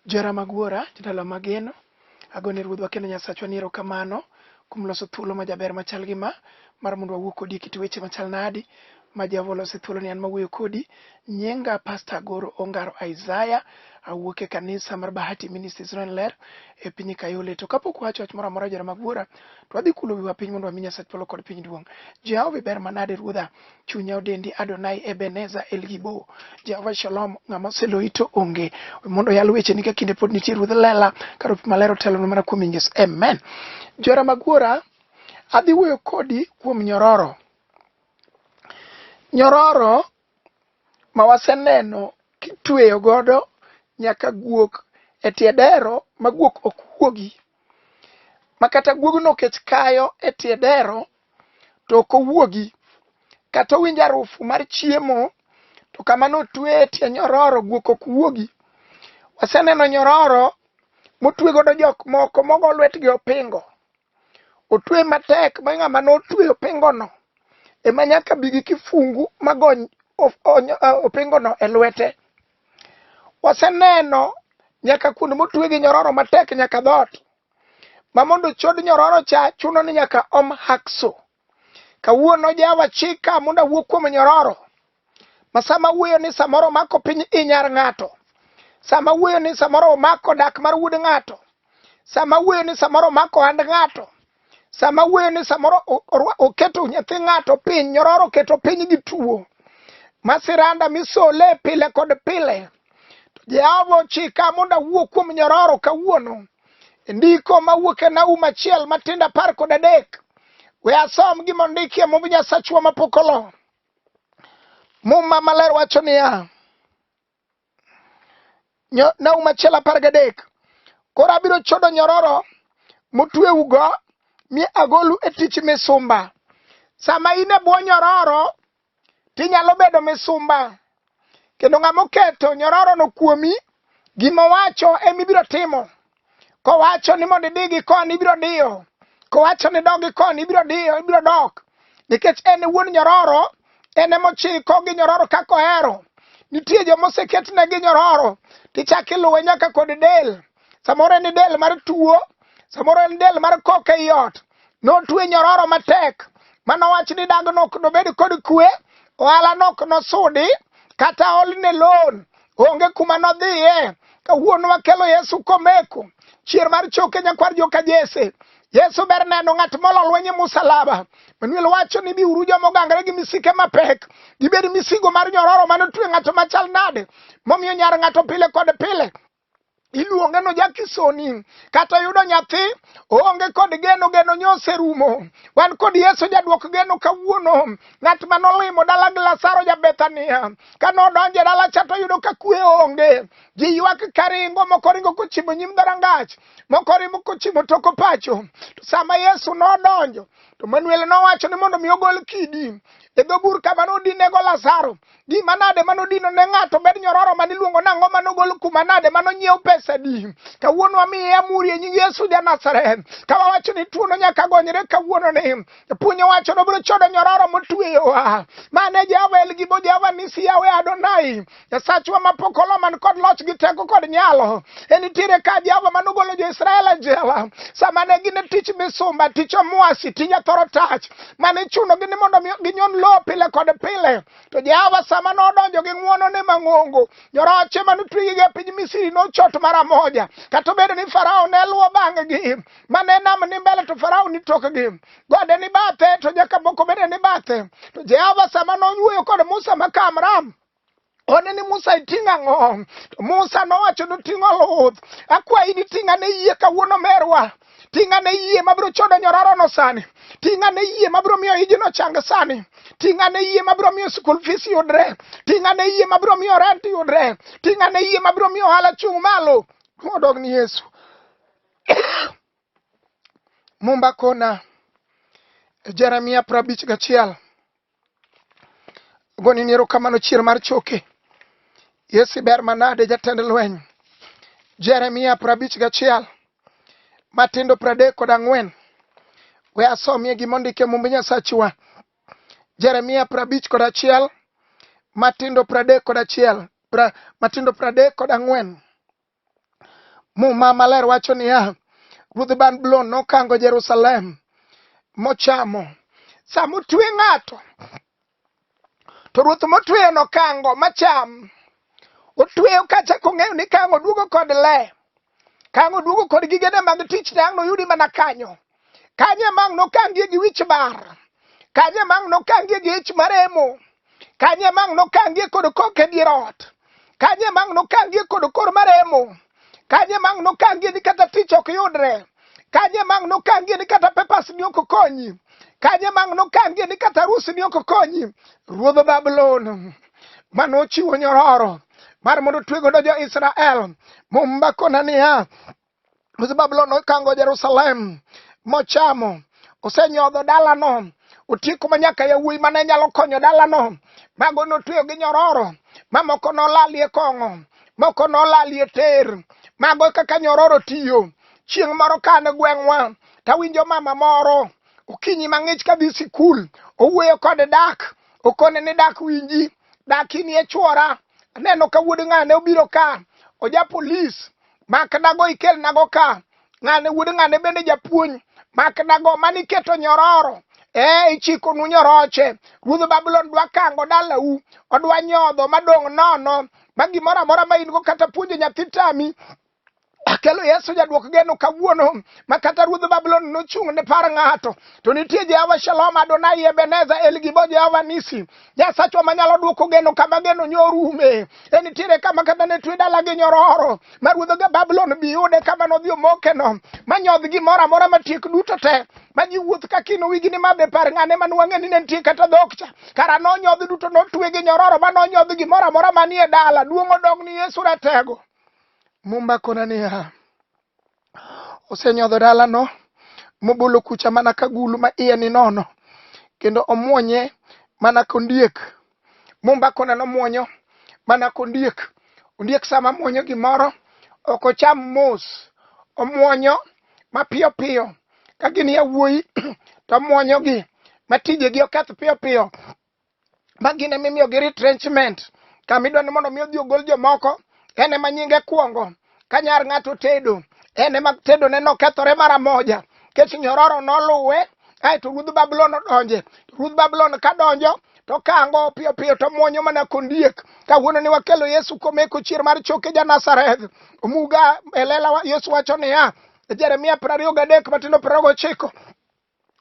Johera mag Wuora, jodala mageno, agone Ruodhwa kendo Nyasachwa ni erokamano kuom loso thuolo majaber machal gi ma mar mondo wawuo kodi e kit weche machal nadi ma Jehova olose thuolo ni an mawuoyo kodi. Nyinga Pasta Agoro Ongaro Isaiah, awuok e kanisa mar Bahati Ministries Ron Ler e piny Kayole. To kapok wacho wach moro amora johera mag Wuora, to wadhi kulo wiwa piny mondo wami Nyasach polo kod piny duong'. Jehova iber manade Ruodha, Chunya odendi Adonai Ebeneza El Gibo Jehova Shalom ng'ama oseloyi to onge mondo yal weche ni ka kinde pod nitie ruodh lela kar opi maler otelo mana kuom inges amen jora magwora adhi wuoyo kodi kuom nyororo nyororo ma waseneno kitweyo godo nyaka guok e tie dero ma guok ok wuogi ma kata guogno kech kayo e tie dero to ok owuogi kata owinjo arufu mar chiemo to kamano otwe e tie nyororo guok ok wuogi. Waseneno nyororo motwe godo jok moko mogo lwetgi opingo. Otwe matek ma ng'ama notwe opingono ema nyaka bi gi kifungu magony opingono e lwete. Waseneno nyaka kuonde motwe gi nyororo matek nyaka dhoot. ma mondo chod nyororo cha chuno ni nyaka om hakso kawuono jawa chika mondo awuo kuom nyororo ma sama wuoyo ni samoro mako piny inyar ng'ato sama wuoyo ni samoro omako dak mar wuod ng'ato sama wuoyo ni samoro omako hand ng'ato sama wuoyo ni samoro oketo nyathi ng'ato piny nyororo keto piny gi tuo masiranda misole pile kod pile To Jehova ochika mondo awuo kuom nyororo kawuono. E ndiko mawuok e Naum achiel matindo apar kod adek. We asom gima ondikie mumb Nyasachwa mapok olo. Muma maler wacho niya, Naum achiel apar gadek, koro abiro chodo nyororo motweugo mi agolu e tich misumba. Sama in e bwo nyororo, to inyalo bedo misumba kendo ng'ama oketo nyororono kuomi gima owacho ema ibiro timo kowacho ni mondo idhi gi koni ibiro diyo kowacho ni dog gi koni ibiro diyo ibiro dok nikech en e wuon nyororo en ema ochiko gi nyororo kaka ohero nitie joma oseketne gi nyororo tichako iluwe nyaka kod del samoro en del mar tuo samoro en del mar kok ei ot notwe nyororo matek mano wach ni dag nok nobed kod kwe ohala nok nosudi kata olne loan onge kuma nodhiye kawuono wakelo yesu komeko chier mar choke nyakwar joka jese yesu ber neno ng'at molo lweny e musalaba manuel wacho ni biuru joma ogangre gi misike mapek gibed misigo mar nyororo mane otwe ng'ato machal nade momiyo nyar ng'ato pile kod pile iluonge no jakisoni kata yudo nyathi oonge kod geno geno nyose rumo wan kod yesu jadwok geno kawuono ng'at ma nolimo dala gi lasaro ja bethania ka nodonjo e dala cha toyudo ka kwe onge ji ywak karingo moko ringo kochimo nyim dharangach moko rimo kochimo toko pacho to sama yesu nodonjo to manuel nowacho ni mondo mi ogol kidi e dho bur kama nodinego lasaro gima nade mano dino ne ng'ato bed nyororo mane iluongo nang'o mano gol kuma nade mano nyiew pesa di kawuono wamiye amuri e nying yesu ja nazareth ka wawacho ni tuono nyaka gonyre kawuono ni puonyo wacho nobiro chodo nyororo motueyowa mane jehova el gibo jehova nisi yawe adonai jasachwa mapok olo man kod loch gi teko kod nyalo en nitiere ka jehova mano golo jo-israel e jela sama ne gin e tich misumba tich omwasi tija thoro tach mane ichunogi ni mondo ginyon lowo pile kod pile to jehova sama nodonjo gi ng'wonone mang'ongo nyoroche mane otwegigi e piny misiri nochot mara moja kata obedo ni farao ne luwo bang'gi mane nam ni mbele to farao ni tokgi gode ni bathe to nyaka moko bende ni bathe to jehova sama noyuoyo kod musa ma kamram one ni Musa iting' ang'o? To Musa nowacho ni ting' oluth. Akwayi ni ting' ane yie kawuono merwa. Ting' ane yie mabiro chodo nyororono sani. Ting' ane yie mabiro miyo ijino chang sani. Ting' ane yie mabiro miyo school fees yudre. Ting' ane yie mabiro miyo rent yudre. Ting' ane yie mabiro miyo ohala chung' malo. Modog ni Yesu. Mumba kona Jeremia prabich gachiel. goni ni erokamano chier mar choke yesi ber manade jatend lweny jeremia prabich gachiel matindo pradek kod ang'wen we asomie gima ondike mumb nyasachwa jeremia prabich kod achiel matindo pradek kod achiel pra, matindo pradek kod ang'wen Muma maler wacho niya, Ruodh Babulon nokango Jerusalem mochamo. Sama otwe ng'ato, to ruoth motweyo nokango macham. Otweyo kacha kong'eyo ni kango duogo kod le, kango duogo kod gigene mag tich, dang' noyudi mana kanyo. kanye mang' nokangie gi wich bar kanye mang' nokangie gi ich maremo kanye mang' nokangie kod kok e dier ot kanye mang' nokangie kod kor maremo kanye mang' nokangie ni kata tich ok yudre kanye mang' nokangie ni kata pepas ni ok konyi kanye mang' nokangie ni kata arus ni ok konyi ruodh babulon mane ochiwo nyororo mar mondo otwe godo jo-Israel. Mumba kona niya, Ruodh Babulon nokango Jerusalem mochamo, osenyodho dalano, otieko ma nyaka yawuoyi mane nyalo konyo dalano, mago notweyo gi nyororo, mamoko nolalie kong'o, moko nolalie ter, mago kaka nyororo tiyo. Chieng' moro ka an e gweng'wa, tawinjo mama moro okinyi mang'ich kadhi sikul, owuoyo kod dak, okone ni dak winji, dak inie chwora, aneno ka wuod ng'ane obiro ka, oja polis, makdago ikelnago ka ng'ane wuod ng'ane bende japuonj makdago mane iketo nyororo ee ichikonu nyoroche ruodh babulon dwa kango dalau odwa nyodho madong' nono ma gimoro amora ma in go kata puonjo nyathi tami akelo yesu jadwok geno kawuono ma kata ruodh babulon nochung' ne par ng'ato to nitie jehova shalom adonai ebeneza elgibo jehova nisi Nyasachwa manyalo duoko geno kama geno nyorume. E nitiere kama kata ne twe dala gi nyororo ma ruodho ga Babulon bi yude kama nodhi omokeno ma nyodh gimoro amora matiek duto te ma ji wuoth ka kino wigi ni ma be par ng'ane ma nwang'e ni ne nitie kata dhok cha kara nonyodh duto notwe gi nyororo ma nonyodh gimoro amora manie dala duong' odog ni Yesu ratego. Mumba kona niya osenyodho dalano mobolo kucha mana ka gulu ma iye ni nono kendo omwonye mana kondiek mombakona nomwonyo mana kondiek ondiek sama mwonyo gimoro ok ocham mos omwonyo mapiyo piyo ka gin yawuoyi to omwonyogi matijegi oketh piyo piyo ma gin ema imiyogi retrenchment kama idwa ni mondo mi odhi ogol jomoko en ema nyinge kwongo ka nyar ng'ato tedo en ema tedone nokethore mara moja kech nyororo noluwe aeto ruodh babulon odonje ruodh babulon ka donjo to kango piyo piyo to mwonyo mana kondiek kawuono ni wakelo yesu komeko chier mar choke ja nazareth omuga elela yesu wacho niya jeremia piero ariyo gadek matindo piero ariyo gochiko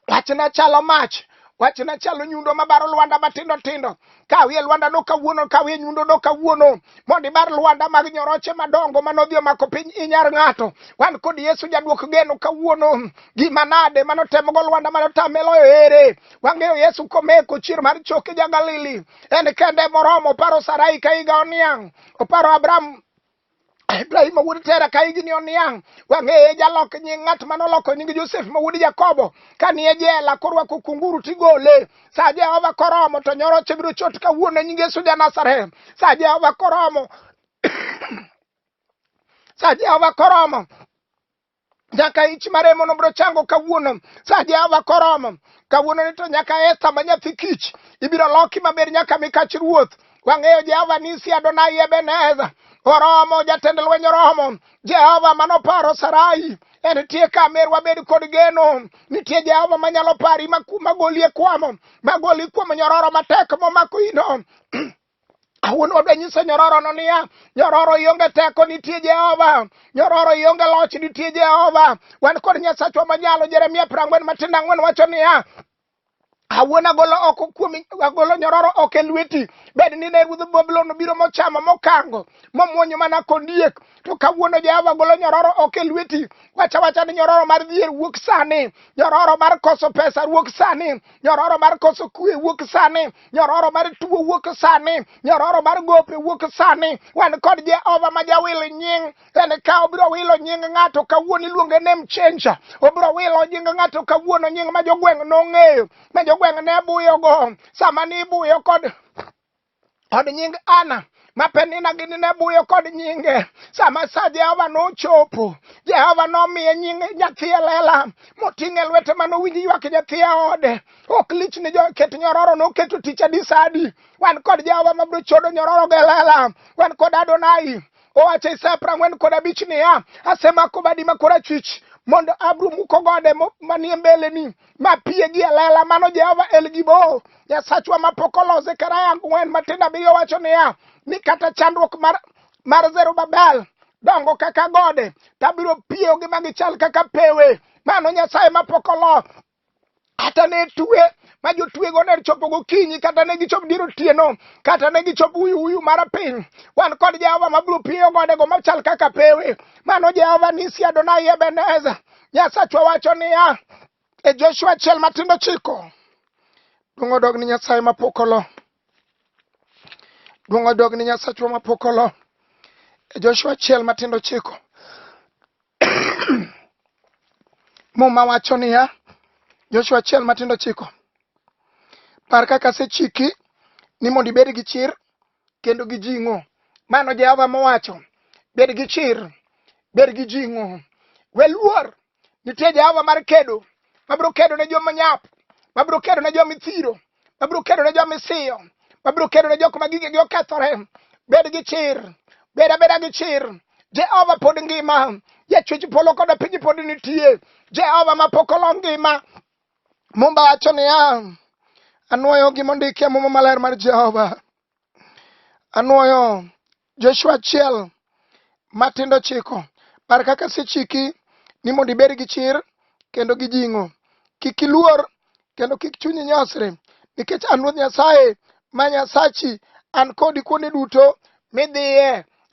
Wachna chalo mach wachna chalo nyundo mabaro lwanda matindo tindo kawie lwanda no kawuono kawie nyundo no kawuono mondo ibar lwanda mag nyoroche madongo manodhi omako piny inyar ng'ato wan kod yesu jadwok geno kawuono gima nade manotemogo lwanda manotameloyo ere wang'eyo yesu komeko chier mar choke ja galili en kende moromo oparo sarai ka higa oniang' oparo abraham Ibrahim wuod Tera ka higni oniang' wang'eye jalok nying ng'at mane oloko nying Josef ma wuod Jakobo ka ni e jela korwako kunguru tigole sa Jehova koromo to nyoro chebiro chot kawuono nying Yesu ja Nazareth sa Jehova koromo sa Jehova koromo nyaka ich maremo nobro chango kawuono sa jehova koromo kawuono ni to nyaka esta ma nyathi kich ibiro loki maber nyaka mikach ruoth wang'eyo jehova nisi adonai ebeneza oromo jatend lweny oromo jehova manoparo sarai en tie ka mer wabed kod geno nitie jehova manyalo pari magoli e kwamo magoli kuom nyororo matek momako ino Awuon wadwa nyiso nyororono niya, nyororo ionge teko nitie Jehova, nyororo ionge loch nitie Jehova. Wan kod Nyasachwa manyalo. Jeremia piero ang'wen matindo ang'wen wacho niya, awuon agolo oko kuomi agolo nyororo oko e lweti bed ni ne ruodh babulon obiro mochamo mokango momwonyo mana kondiek to kawuono jehova golo nyororo oko e lweti wacha wacha ni nyororo mar dhier wuok sani nyororo mar koso pesa wuok sani nyororo mar koso kue wuok sani nyororo mar tuo wuok sani nyororo mar gope wuok sani wan kod jehova ma jawil nying en ka obiro wilo nying ng'ato kawuono iluonge nem chenja obiro wilo nying ng'ato kawuono nying ma jogweng' nong'eyo ma jogweng' ne buyogo sama nibuyo kod kod nying ana ma penina gini ne buyo kod nyinge sama sa jehova nochopo jehova nomiye nying nyathi e lela moting' e lwete ma nowinj ywak nyathi e ode ok lich ni joket nyororo noketo tich adisadi wan kod jehova mabiro chodo nyororo ge lela wan kod adonai owacho isaya prang'wen kod abich niya asemako badi ma korachwich mondo abro muko gode manie mbeleni ma pie gi elela mano jehova el gibo nyasachwa ma pok olose karaya ang'wen matindo abiriyo wacho niya ni kata chandruok mar, mar zerubabel dongo kaka gode tabiro piyogi ma gichal kaka pewe mano nyasaye ma pok olo kata ne tue ma jotwego ne chopo gokinyi kata ne gichop dier otieno kata ne gichop uyuuyu mar piny wan kod jehova mabiro piyo godego machal kaka pewe mano jehova nisi adonai ebeneza Nyasachwa wacho niya e Joshua achiel matindo chiko duong' odog ni Nyasaye mapok olo duong' odog ni Nyasachwa mapok olo e Joshua achiel matindo chiko muma wacho niya Joshua achiel matindo chiko par kaka asechiki ni mondo ibed gi chir kendo gi jing'o. Mano Jehova mowacho, bed gi chir, bed gi jing'o. We luor, nitie Jehova mar kedo, mabiro kedo ne joma nyap, mabiro kedo ne joma ithiro, mabiro kedo ne joma isiyo, mabiro kedo ne jok ma gigegi okethore. Bed gi chir, bed abeda gi chir. Jehova pod ngima, jachwech polo koda piny pod nitie. Jehova ma pok olo ngima, Mumba wacho niya, anwoyo gima ondiki e Muma Maler mar Jehova. Anwoyo Joshua achiel matindo chiko par kaka sechiki ni mondo ibed gi chir kendo gi jing'o. Kik iluor kendo kik chunyi nyosre nikech an Ruoth Nyasaye ma Nyasachi an kodi kuonde duto midhiye.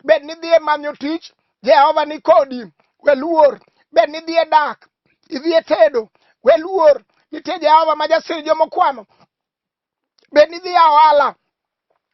Bed nidhiye manyo tich Jehova ni kodi, we luor. Bed ni idhi e dak, idhi e tedo, we luor. Nitie Jehova ma jasir joma okwano. Bed ni idhi e ohala,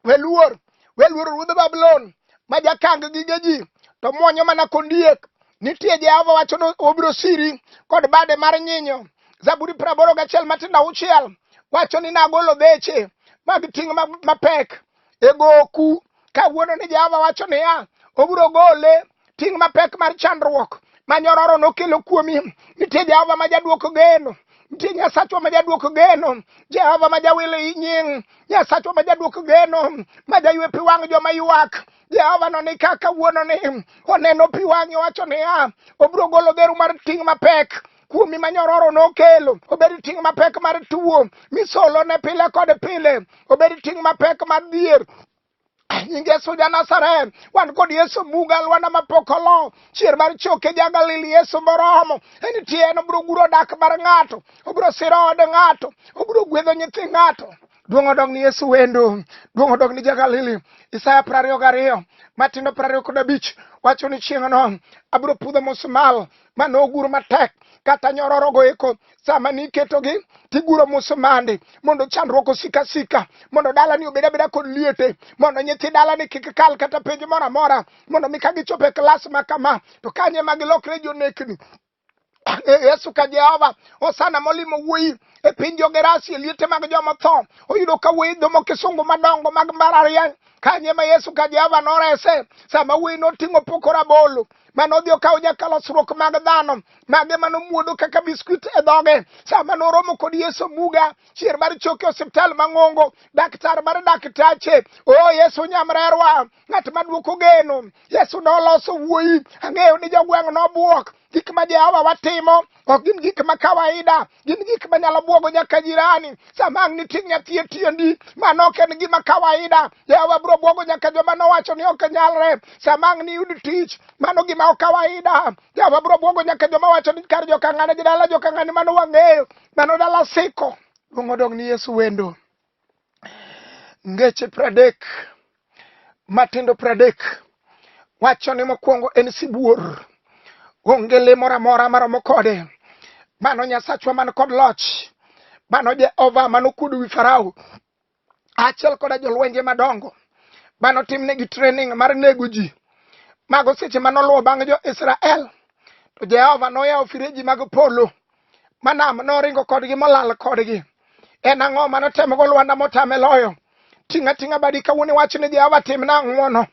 we luor. We luor ruodh Babulon ma jakang gige ji, to mwonyo mana kondiek. Nitie Jehova wacho ni obiro siri kod bade mar nyinyo. Zaburi praboro gachiel matindo auchiel wacho ni nagolo dheche mag ting' mapek e goku kawuono ni Jehova wacho niya, obiro gole ting' mapek mar chandruok ma nyororo nokelo kuomi. Nitie Jehova ma jadwoko geno nitie nyasachwa ma jadwoko geno jehova ma jawilo i nying nyasachwa ma jadwoko geno ma jaywe pi wang' joma ywak jehova no ni kaka wuononi oneno pi wang'e wacho niya obiro golo dheru mar ting' mapek kuomi ma nyororo nokelo obed ting' mapek mar tuwo misolo ne pile kod pile obed ting' mapek mar dhier nying yesu ja nazareth wan kod yesu buga alwanda mapok olo chier mar choke ja galili yesu moromo en tie en obiro guro dak mar ng'ato obiro siro od ng'ato obiro gwedho nyithi ng'ato duong' odog ni yesu wendo duong' odog ni ja galili isaya prariyo gariyo matindo prariyo kod abich wacho ni chieng'no abiro pudho musmal ma nogur matek kata nyororogo eko sama niketogi tiguro musumande mondo chandruok osika sika mondo dalani obed abeda kod liete mondo nyithi dalani kik kal kata penj moro amora mondo mi ka gichopo e klas ma kama to kanye ma gilokre jonekni E, yesu ka jehova osana molimo wuoyi e piny jogerasi e liete mag joma tho oyudo ka wuoyi dhomo kisungu madongo mag mbalariany kanye ma yesu ka jehova norese sama wuoyi noting'o poko rabolo mane odhi okawo nyaka losruok mag dhano mage mane omuodo kaka biskuit e dhoge sama noromo kod yesu muga chier mar choke osiptal mang'ongo daktar mar daktache o oh, yesu nyamrerwa ng'at maduoko geno yesu noloso wuoyi ang'eyo ni jogweng' nobwok gik ma jehowa watimo ok gin gik ma kawaida gin gik ma nyalo bwogo nyaka jirani sama ang' nitie nyathi e tiendi mano ok en gima kawaida jehova biro bwogo nyaka joma nowacho ni ok nyalre sama ang' niyud tich mano gima ok kawaida jehova biro bwogo nyaka joma wacho ni kar jokang'ane gi dala jokang'ane mano wang'eyo mano dala siko luong odong' ni yesu wendo ngeche pradek matindo pradek wacho ni mokwongo en sibuor onge le moro amora maromo kode mano nyasachwa man kod loch mano jehova manokuodo wi farao achiel koda jolwenje madongo manotimnegi training mar nego ji mago seche manoluwo bang' jo-israel to jehova noyawo fireji mag polo manam noringo kodgi molal kodgi en ang'o ma notemogo lwanda motame loyo ting'a ting'a badi kawuono iwach ni jehova timna ang'wono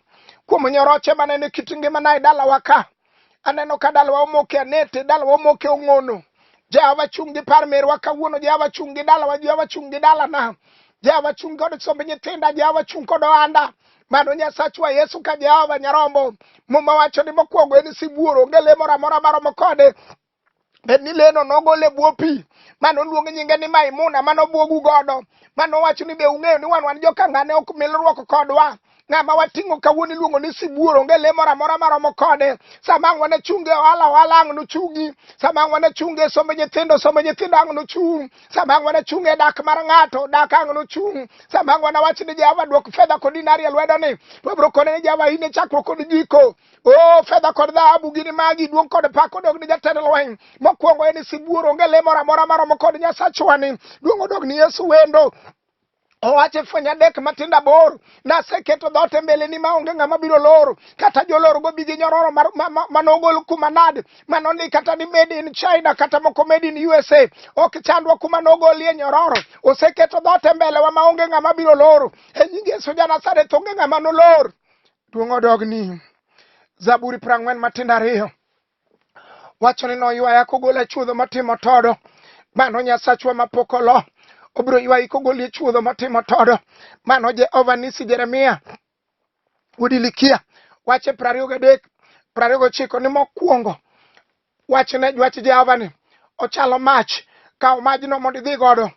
kuom nyoroche manene kit ngimana e dalawa ka aneno ka dalawa omoke anete dalawa omoke ong'ono jehova chung' gi par merwa kawuono jehova chung' gi dalawa jehova chung' gi dalana jehova chung' kod somb nyithinda jehova chung' kod ohanda mano nyasachwa yesu ka jehova nyarombo muma wacho ni mokwongo en sibuor onge le moro amora maromo kode bed ni leno nogol e bwo pi ma noluong nyinge ni Maimuna ma nobwogu godo ma nowacho ni be ung'eyo ni wan wan jokangane ok milruok kodwa ng'ama wating'o kawuono iluongo ni sibuor onge le moro amora maromo kode sama ang' wane chunge ohala ohala ang' nochungi sama ang' wane chunge somb nyithindo somb nyithindo ang' nochung' sama ang' wane chunge dak mar ng'ato dak ang' nochung' sama ang' wane wach ni jehova dwok fedha kod dinari e lwedoni wabiro kone ni jehova in e chakruok kod giko o fedha kod dhahabu gini magi duong' kod pak odog ni jatend lweny mokwongo en sibuor onge le moro amora maromo kod nyasachwani duong' odog ni yesu wendo owache fweny adek matindo aboro naseketo dhoot e mbeleni maonge ng'ama biro loro kata jolorgo bi gi nyororo manogol kuma nade manoni kata ni made in china kata moko made in usa ok chandwa kuma nogolie nyororo oseketo dhoot e mbelewa maonge ng'ama biro loro e nying yesu janasareth onge ng'ama nolor Duong' odog ni Zaburi piero ang'wen matindo ariyo wacho ni noywaya kogola chuodho matimo todo mano Nyasachwa mapok olo obiro ywayi kogoli e chuodho matimo todo mano Jehova nisi Jeremia Udilikia wache piero ariyo gadek piero ariyo gochiko ni mokwongo Wachne jwach Jehova ni, Ochalo mach, kaw majno mondo idhi godo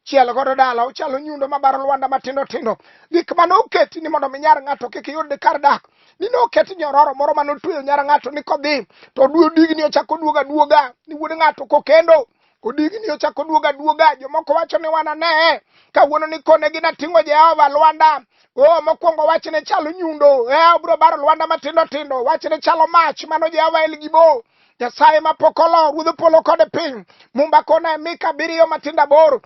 chiel godo dala ochalo nyundo mabaro lwanda matindo tindo gik mane oketi ni mondo mi nyar ng'ato kik yud kar dak ni ne oket nyororo moro mane otweyo nyar ng'ato ni kodhi to oduo digni ochako oduoga duoga ni wuod ng'ato kokendo Odigni ochako duoga duoga, jomoko wacho ni wana ne kawuono ni kone gina ting'o Jehova Lwanda. O oh, mokwongo wachne chalo nyundo, e eh, obro baro Lwanda matindo tindo, wachne chalo mach, mano Jehova El Gibo. Nyasaye ma pokolo, ruodh polo kod piny, mumba kona e mika abiriyo matindo aboro,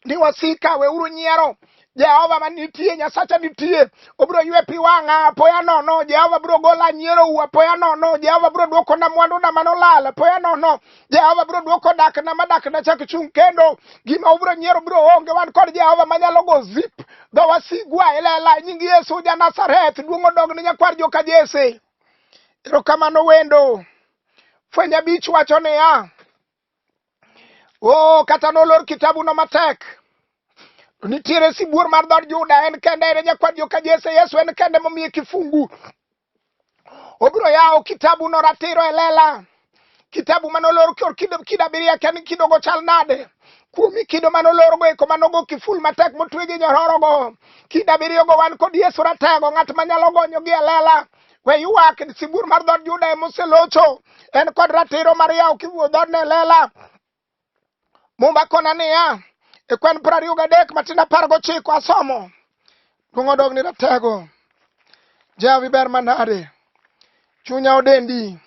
ni wasika weuru nyiero jehova ma nitie nyasacha nitie obiro ywe pi wang'a apoya nono jehova biro gola nyierou apoya nono jehova biro dwokona mwanduna manolal apoya nono jehova biro dwoko dakna ma dakna chak chung' kendo gima ubiro nyiero biro onge wan kod jehova manyalo go zip dho wasigwa ilela e nying yesu ja nazareth duong' odog ne nyakwar joka jese erokamano wendo fweny abich wacho niya oh kata nolor kitabu no matek nitiere sibuor mar dhod juda en kende en nyakwad joka jese yesu en kende momiye kifungu obiro yawo kitabu no ratiro e lela kitabu mane olor kor kido kido abiriyo akia ni kidogo chal nade kuomi kido mane olorgo eko manogo kiful matek motwe gi nyororogo kido abiriyogo wan kod yesu ratego ng'at manyalo gonyogi e lela We ywak sibuor mar dhood Juda ema oselocho. En kod ratiro mar yawo kiwuo dhoodne e lela. Mumba kona niya, e kwen piero ariyo gadek matin apar gochiko asomo. Duong' odog ni ratego. Jehova iber manade. Chunya odendi.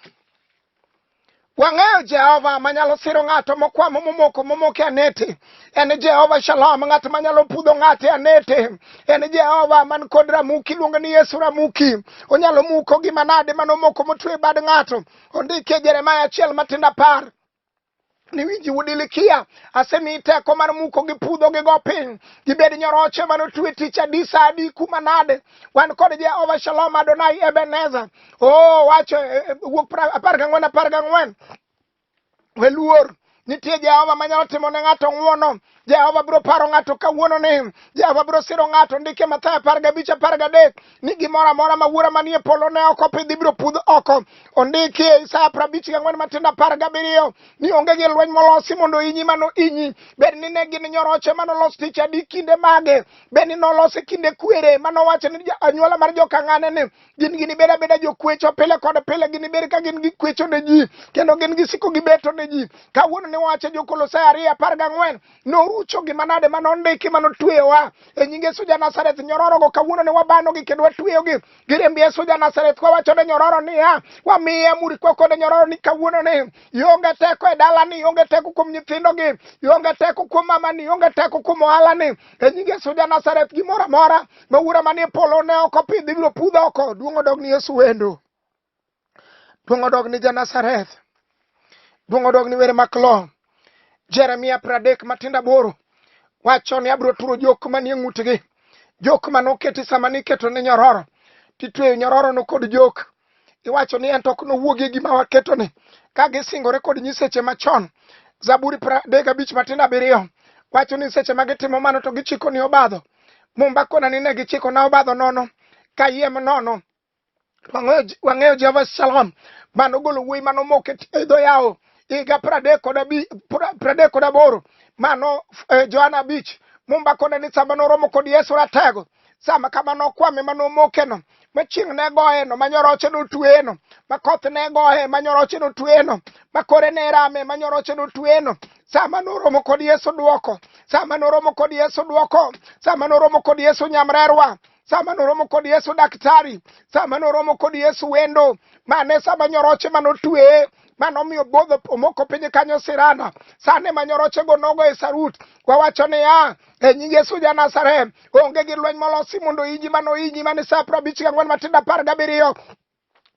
Wang'eyo Jehova manyalo siro ng'ato mokwamo momoko momoke anete. En Jehova Shalom, ng'at manyalo pudho ng'ate anete. En Jehova man kod Ramuki, iluongo ni Yesu Ramuki. Onyalo muko gima nade manomoko motwe bad ng'ato. Ondike Jeremaya achiel matindo apar. ni winji udilikia asemi teko mar muko gi pudho gi go piny gibed nyoroche mano twe tich adi sa adi kuma nade wan kod jehova shalom adonai ebenezer o oh, wacho eh, eh, wuok apar gang'wen apar gang'wen weluor nitie jehova manyalo timo ne ng'ato ng'uono Jehova biro paro ng'ato kawuono ni Jehova biro siro ng'ato ndike Mathayo apar gabich apar gadek ni gimoro amora ma wuora manie polo ne ok opidhi biro pudh oko. Ondiki e Isaya prabich gang'wen matindo apar gabiriyo ni onge gi lweny molosi mondo inyi mano inyi. Bed ni ne gin nyoroche manolos tich adi kinde mage, bed ni nolose kinde kwere manowacho ni anyuola mar jokang'ane ni gin ginibed abeda jokwecho pile kod pile ginibed ka gin gikwecho ne ji kendo gin gisiko gibeto ne ji kawuono ne wacho jokolosai ariyo apar gang'wen norucho gima nade ma nondiki ma notweyowa e nying yesu ja nazareth nyororogo kawuono ne wabanogi kendo watweyogi giriemb yesu ja nazareth kwawacho ne nyororo niya wamiye amuri kwa kode nyororo ni kawuono ni ionge teko e dalani ionge teko kuom nyithindogi ionge teko kuom mamani ionge teko kuom ohalani e nying yesu ja nazareth gimoro amora ma wura manie polo ne ok opidh ibiro pudh oko duong' odog ni yesu wendo duong' odog ni janazareth duong' odog ni were maklo jeremia pradek matindo aboro wacho ni abiro turo jok manie ng'utgi jok mane oketi sama niketo ne nyororo titweyo nyororono kod jok iwacho ni en to ok nowuogi e gima waketoni ka gisingore kod nyiseche machon zaburi pradek abich matindo abiriyo wacho ni seche ma gitimo mano to gichiko ni obadho mumba kona ni ne gichiko na obadho nono kayiem nono Wang'eyo- wang'eyo jehova shalom mano golo wuoyi mano moko e t- e dho yawo higa pradek kod abi- pra- pradek kod aboro mano eh, johana abich mumba kona ni sama noromo kod yesu ratego sama kama nokwame ma nomokeno ma chieng' ne goyeno ma nyoroche notweyeno ma koth ne goye ma nyoroche notweyeno ma kore ne rame ma nyoroche notweyeno sama noromo kod yesu dwoko sama noromo kod yesu dwoko sama noromo kod yesu nyamrerwa sama noromo kod yesu daktari sama noromo kod yesu wendo mane sama nyoroche ma notweye mano omiyo bodho omoko piny kanyo sirana sane ma nyorochego nogo e sarut wawacho niya e nying Yesu ja Nazareth, onge gi lweny molosi mondo inyi mano inyi mane sa apar abich gang'wen matindo apar gabiriyo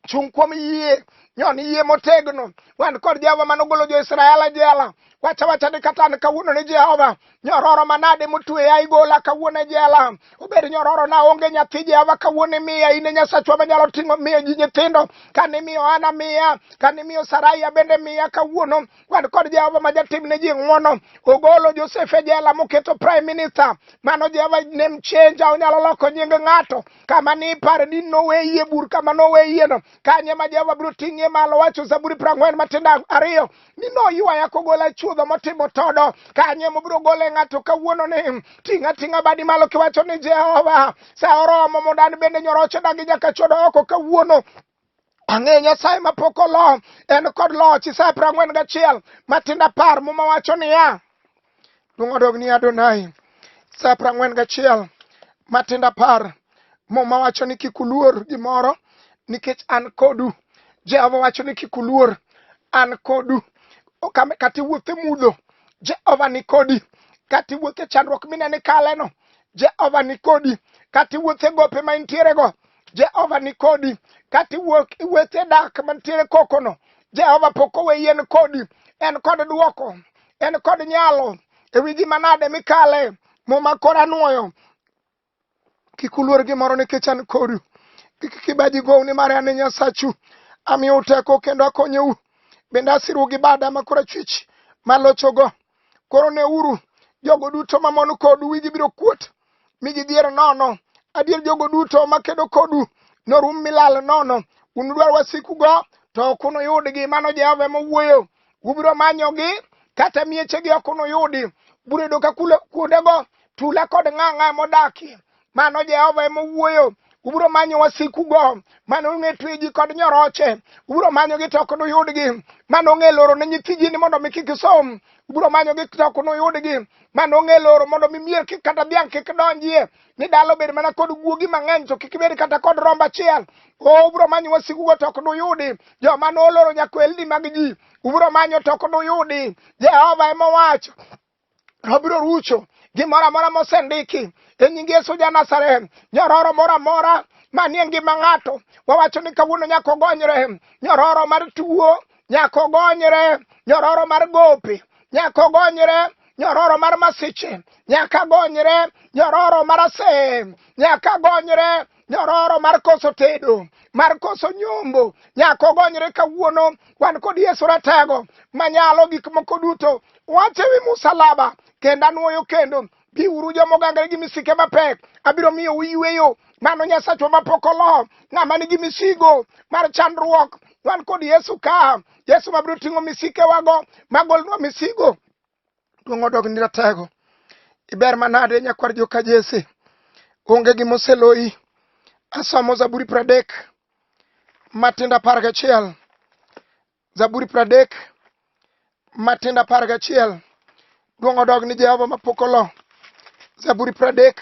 chung' kuom yie nyon yie motegno wan kod Jehova mane ogolo jo-Israel e jela wacha wacha ni kata an kawuono ni Jehova nyororo manade motweya igola kawuono e jela obed nyororo na onge nyathi Jehova kawuono imiya in e Nyasachwa manyalo ting'o miyo ji nyithindo kane imiyo Hana miya kane imiyo Saraia bende miya kawuono wan kod Jehova ma jatim ne ji ng'wono. Ogolo Josef e jela moketo prime minister. Mano Jehova name changer, onyalo loko nying ng'ato. Kama ni ipare ni noweyie bur kama noweyieno. Kanye ma Jehova biro ting'ie malo wacho Zaburi prang'wen matindo ariyo ni noywaya kogola chuodho motimo todo. Kanye mobiro gole ng'ato kawuono ni ting' ating'a badi malo kiwacho ni Jehova sa oromo mondo an bende nyoroche dagi nyaka chodo oko kawuono. Ang'e Nyasaye ma pok olo, en kod loch. Isaya piero ang'wen gachiel matindo apar muma wacho niya, luong odog ni Adonai. Isaya piero ang'wen gachiel matindo apar muma wacho ni kik uluor gimoro nikech an kodu. Jehova wacho ni kik uluor, an kodu. Kata iwuotho e mudho, Jehova ni kodi. Kata iwuotho e chandruok mineno ikaleno, Jehova ni kodi. Kata iwuotho e gope ma intierego, Jehova ni kodi kata iwuok iwete dak mantiere kokono Jehova pok owe yien kodi en kod duoko en kod nyalo e wi gima nade mikale muma kora nwoyo kik uluor gimoro nikech an kodu kik kibaji gou nimar an e nyasachu amiyou teko kendo akonyou bende asiru gi bada ma kora chwich malochogo koro neuru jogo duto mamon kodu wigi biro kuot mi gidhier nono. Adier jogo duto makedo kodu norum milal nono. Unudwar wasikugo, to ok unuyudgi. Mano Jehova ema owuoyo. Ubiro manyogi, kata miechegi ok unuyudi. Biro yudo ka kuondego tula kod ng'ang'a ema odakie. Mano Jehova ema owuoyo. Ubiro manyo wasikugo mane ong'e tweji kod nyoroche. Ubiro manyogi to ok nuyudgi. Mane ong'e loro ne nyithi ji ni mondo mi kik isom. Ubiro manyogi to ok nuyudgi. ma nong'e loro mondo mi mier kik kata dhiang' kik donjie ni dala obed mana kod guogi mang'eny to kik bed kata kod rombo achiel o ubro manyo wasikugo to ok duyudi joma noloro nyakwelni mag ji ubro manyo to ok duyudi jehova ema owacho obiro rucho gimoro amora mosendiki e nying yesu ja nazareth nyororo moro amora manie ngima ng'ato wawacho ni kawuono nyaka ogonyre nyororo mar tuo nyaka ogonyre nyororo mar gope nyaka ogonyre nyororo mar masiche nyaka gonyre nyororo mar ase nyaka gonyre nyororo mar koso tedo mar koso nyombo nyaka ogonyre kawuono wan kod yesu ratego manyalo gik moko duto wache wi musalaba kendo anwoyo kendo biuru joma ogangre gi misike mapek abiro miyo uyweyo mano nyasachwa mapok olo ng'ama nigi misigo mar chandruok wan kod yesu ka yesu mabiro ting'o misikewago magolnwa misigo duong' odog ni ratego iber manade nyakwar joka jese onge gima oseloyi asomo zaburi pradek matindo apar gachiel Zaburi pradek matindo apar gachiel duong' odog ni Jehova mapok olo. Zaburi pradek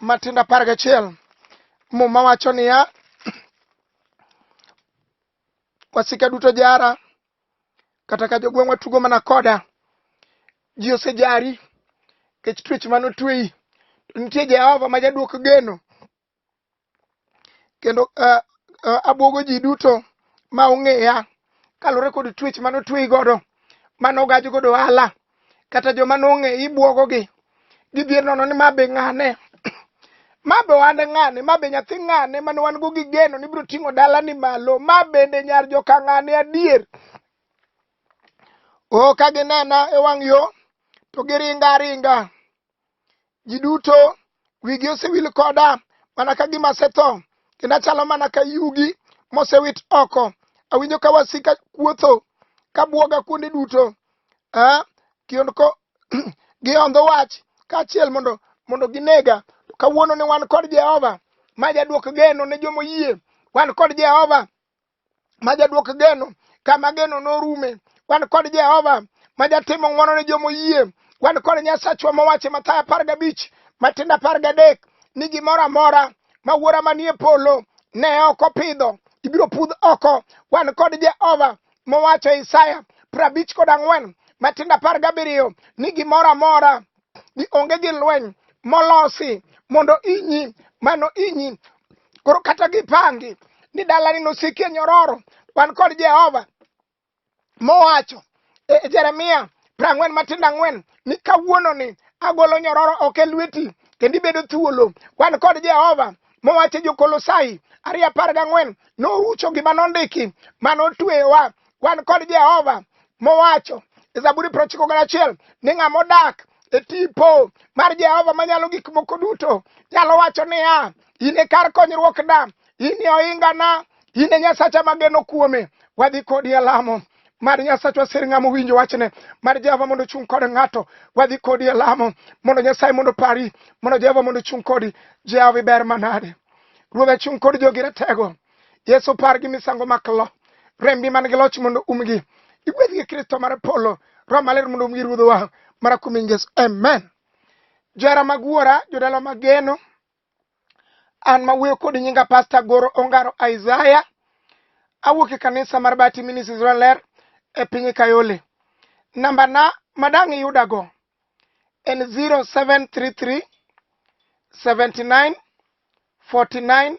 matindo apar gachiel muma wacho niya wasika duto jara kata ka jogweng'wa tugo mana koda ji osejari kech twech mane otweyi to nitie Jehova ma jadwok geno kendo uh, uh, abwogo ji duto ma ong'eya kaluwore kod twech mane otweyi godo mane ogaj godo ohala kata joma nong'e ibwogogi gidhier nono ni ma be ng'ane ma be ohande ng'ane ma be nyathi ng'ane mane wan go gi geno ni biro ting'o dalani malo ma bende nyar joka ng'ane adier o ka ginena e wang' yo to giringa aringa Ji duto wigi osewil koda mana ka gima asetho, kendo achalo mana ka yugi mosewit oko. Awinjo ka wasika kuotho ka bwoga kuonde duto. Eh, kionko gihondho wach kaachiel mondo mondo ginega. Kawuono ne wan kod Jehova ma jadwok geno ne joma oyie. Wan kod Jehova ma jadwok geno kama geno norume wan kod jehova ma jatimo ng'wono ne joma oyie wan kod nyasachwa mowacho mathayo apar gabich matindo apar gadek ni gimoro amora ma wuora manie polo ne ok opidho ibiro pudh oko wan kod jehova mowacho isaya prabich kod ang'wen matindo apar gabiriyo ni gimoro amora ni onge gi lweny molosi mondo inyi mano inyi koro kata gipangi ni dalani nosikie nyororo wan kod jehova mowacho e jeremia prang'wen matindo ang'wen ni kawuono ni agolo nyororo ok e lweti kendo ibedo thuolo wan kod jehova mowacho e jokolosai ariyo apar gang'wen norucho gima nondiki mane otweyowa wan kod Jehova mowacho e Zaburi prochiko gi achiel ni ng'ama odak e tipo mar Jehova manyalo gik moko duto nyalo wacho niya, in e kar konyruokna, in e ohingana, in e Nyasacha mageno kuome, wadhi kodi e lamo mar nyasachwa sir ng'ama owinjo wachne mar jehova mondo ochung' kod ng'ato wadhi kodi e lamo mondo nyasaye mondo pari mondo jehova mondo ochung' kodi jehova iber manade ruodha chung' kod jogi ratego Yesu par gi misango maklo rembi man gi loch mondo umgi igwedh gi Kristo mar polo Roho maler mondo umgi ruodhowa mara kuom Yesu amen jara mag wuora jodala mageno an ma wuoyo kod nyinga pasta goro ongaro isaya awuok e kanisa mar bati ministries ler e piny kayole namba na madang iyudago en 0733 79 49